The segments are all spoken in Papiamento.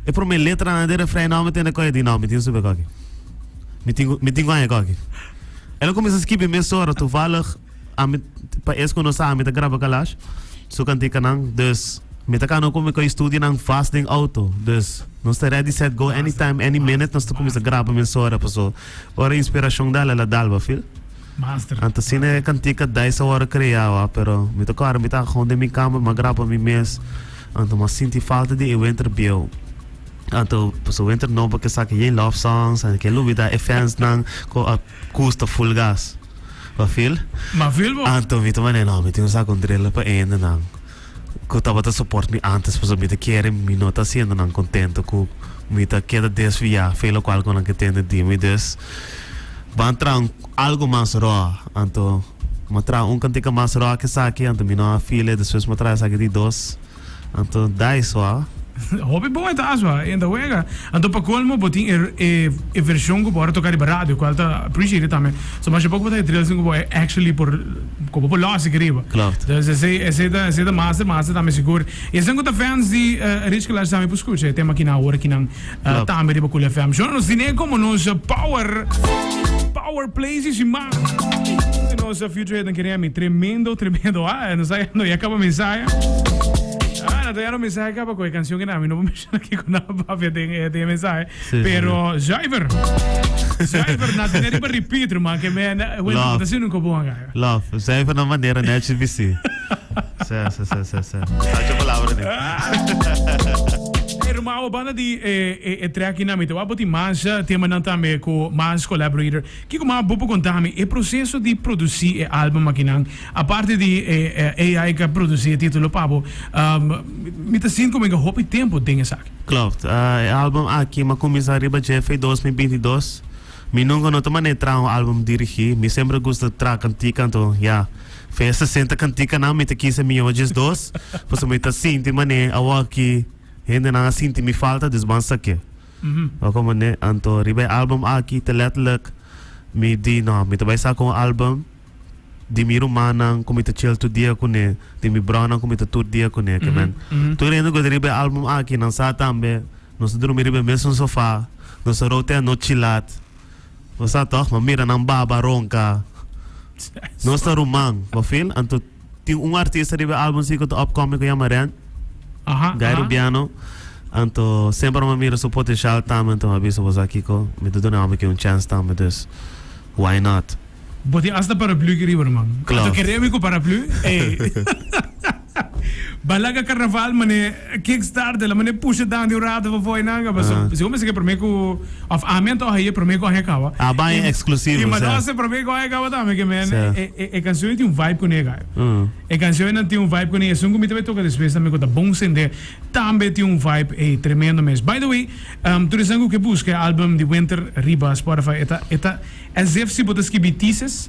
E prome letranan di refrein no mi tene koe di no mi tin sube koki. Mi tin mi tin koe koki. E lo comienza skibi mes ora toevallig a mi pa es ku no sa a mi ta graba kalash su kantikanan dus mi ta kano ku mi koe studionan vast den auto dus nos ta ready set go anytime any minute nos ta comienza graba mes ora paso ora inspirashon dal a la dalba fil. Master. Anta asina e cantica dais a worde creawa, pero mi ta corre mi ta haga un den mi cama mi a graba pa mi mes, anta mi a sinti falta di e wenter bieu, anta paso wenter nobo ke saca yey love songs, anta ke lubida e fans nan cu a custa full gas, Mafil? Mafil bo. Anta mi ta manera no mi tin saca un driller pa ende nan. cu tabata support mi antes pasobra mi ta kere mi no ta haciendo nan contento cu mi ta keda desvia fe locual cu nan ke tende di mi dus ban traha un algo mas roa anto mi a traha un cantica mas roa ke esaki anto mi no a feel e despues mi a traha esaki di dos anto dai so a. Hopi bon e ta aso a en ta wega anto pa colmo bo tin e version cu bo ora toca riba radio cual ta appreciated tambe. So masha poco bo ta e drills den cu bo actually por cu bo por logic riba. Klopt. Dus esey esey ta esey ta master master tambe sigur. Y esnan cu ta fans di eh, Rich Kalash tambe por scucha e tema aki na awor aki nan eh, Klopt. tambe riba Cool FM. Shona nos tine como nos eh, power power plays y sin más. Y nos eh, future head kere mi tremendo tremendo ah eh, nos está yendo ya acaba mensaje. Ah, nos está yendo mensaje acaba con e canción que na mi no Shina kiko nan a papia den e den e mensahe Sí, sí, pero sí. zuiver zuiver nan tene riba repeat ruman ke me na wen Love. reputacion nunca bon a gana. Love, zuiver na manera neci di si. Sa, sa, sa, sa, sa. Tachi palabra di. Ey ruman awa banda di e e e track nan mi te wou a bo tin mansh temanan tambe ku mansh collaborator. Kiko mas bo por conta mi e proceso di produci e album akinan? Aparte di e AI cu a produci e titulo pa bo, mi ta sinti como mi ga hopi tempo den esaki. Klopt. E album aki mi a cuminsa riba dje fei dos mi binti dos. Mi nunca no ta mane traha un album dirigi. Mi semper a gusta traha cantica anto ya, fei e sesenta canticanan mi ta kis e mihojes dos, pasobra mi ta sinti mane awor aki hendenan a sinti mi falta, dus ban sa ke. Ora cu mane anto riba e album aki ta letterlijk mi di no, mi ta bay saca un album di mi rumannan cu mi ta chel tur dia cune, di mi bronan cu mi ta tur dia cune, oke men. Tur hende cu ta riba e album aki nan sa tambe nos ta drumi riba e mesun sofa, nos ta row te anochi chi lat, bo sa toch? Bo mira nan baba ronca, nos ta ruman, bo feel? Anto. Tin un artista riba e album si cu ta upcoming cu yama Ren. Aha, Guy aha. Rubiano. Anto semper ora mi a mira su potencial tambe anto mi a bisa bo sa kico mi ta duna e homber aki un chance tambe dus why not. Bo tin hasta paraplu aki riba ruman. Anto Klopt. kere mi cu paraplu? Ey. Ba laga carnaval mane. Kickstarter la mane pusha dan di un rato pa fo'i nan ka paso si bo mester ke prome ku of ami a toha ye prome gohe kaba A bai en eksklusivo i ma do se prome gohe kaba tambe ke men e kansionan tin un vibe kune ka e kansionan tin un vibe kune i esun ku mi ta bai toka despues tambe ku ta bon sende tambe tin un vibe ey tremendo mes by the way tur esnan ku ke buska e album di Wenter riba Spotify e ta e ta as if si bo ta skibi thesis.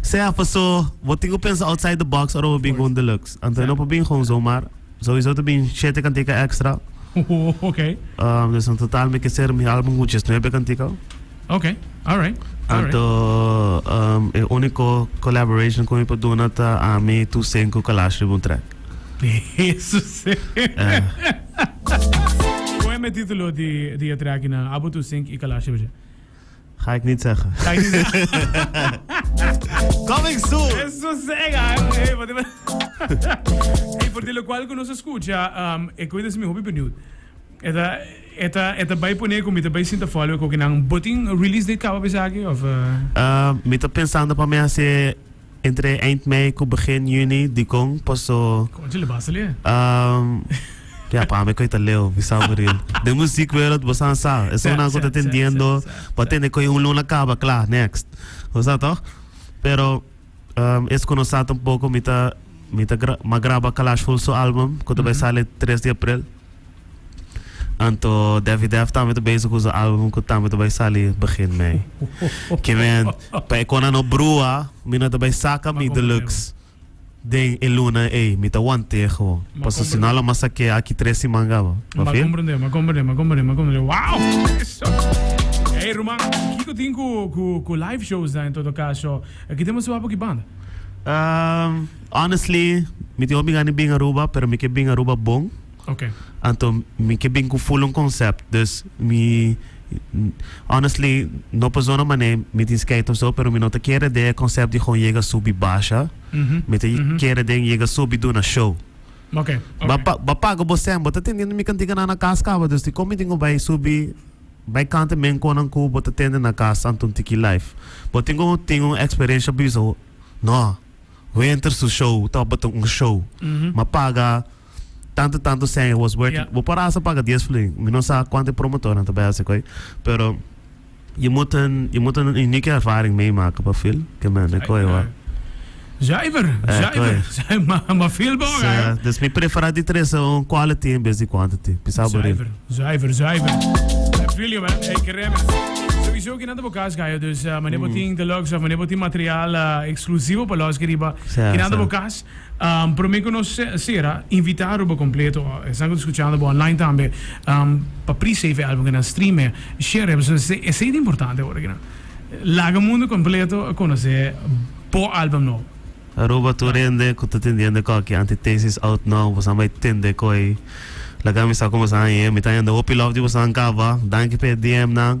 Sea, paso, bo tin cu pensa outside the box ora bo bin cu un deluxe. Anto e no por bin gewoon zomaar. Sowieso ta bin shete kantika extra. Oh, ok. Um, dus in totaal mi kiser mi album cu djes nuebe kantika. Ok, alright, alright. Anto um, e unico collaboration cu mi por duna ta Ami, Toussaint cu Kalash riba un track. Eso sí. Eh. Cu e me titulo di, di e track na Abo Toussaint y Kalash riba dje? Ga ik niet zeggen. Ga ik niet zeggen. Coming soon. Eso sega. Hey, por de lo cual que nos escucha, um, e coisa se mi hobby benieuwd. Eta, eta, eta bij poner como eta bij sinta follow, que ook in botin release date cabo besaki of. Uh... Uh, mi ta pensando pa mi hacer Entre eind mei cu begin juni dicon paso. Con dje lebasa le? Umm. Ya pa mi coy ta Leo bisa buril. Den muziekwereld bosa a sa. Esun nan cu ta tendiendo pa tene coy un luna caba cla next. Bo sa toch? Pero umm es cu no sa tampoco mi ta mi ta mas graba Kalash Hulsu album cu ta bay sali tres di april. Anto Daffy Def tambe ta bezig ku su album ku tambe ta bai sali begin mei. Ke men, pa e kona no brua, mi no ta bai saka mi deluxe den e luna ei. Mi ta want'e gewoon. Paso si no lo mas a ke aki tres siman gaba. M'a Pafi? komprendé, m'a komprendé, m'a komprendé, m'a komprendé. Wow! Eso. Ey, ruman, kiko tin ku, ku, ku live shows ta en todo kaso? Ki tempo su a por ki banda? Ehm. Honestly, mi tin hopi gana di bin Aruba, pero mi ke bin Aruba bon. Okay. Anto mi ke bin ku full un concept. Dus mi honestly no persona mané mi tin skeit of so, pero mi no ta kere den e concept di gon yega subi basha. Mi ta kere den yega subi duna show. Okay, okay. Ba pa- ba paga bo sen, bo ta tende na mi kantika nan na kas kaba, dus di kon mi tin ku bai subi bai kanta men konan ku bo ta tende na kas anto un tiki life. Bo tin ku tin un experiencia biso? No. Wenter su show tabata un show. Ma paga tantu tantu cen was worth it. Bo por a hasta paga dies flin. Mi no sa cuanto e promotornan ta bay haci coy. Pero je moet een je moet een unieke ervaring meemaken pa feel ke men e coy hoor. Zuiver, zuiver. Ma feel bo ora he. Sa, dus mi prefera di tres un quality en bes di quantity. Pisa bo ril. Zuiver, zuiver, zuiver. Feel yo man, ey ke remix. Souiso. Kende bo kas Gayo dus mane bo tin deluxe of mane bo tin material eksklusivo pa loske riba kinanta bo kas prome ku nos sera invita Aruba kompleto esnan ku ta skuchando bo online tambe pa pri save e album kinan streame shere esei ta importante ora kinan laga mundu kompleto a konosé bo album nobo. Aruba tur hende ku ta tendiendo e koki antitesis out now bosa bai tende koe lagami sa ku bosa aye mi ta hende hopi lof di bosa kaba danki pa e dm nan.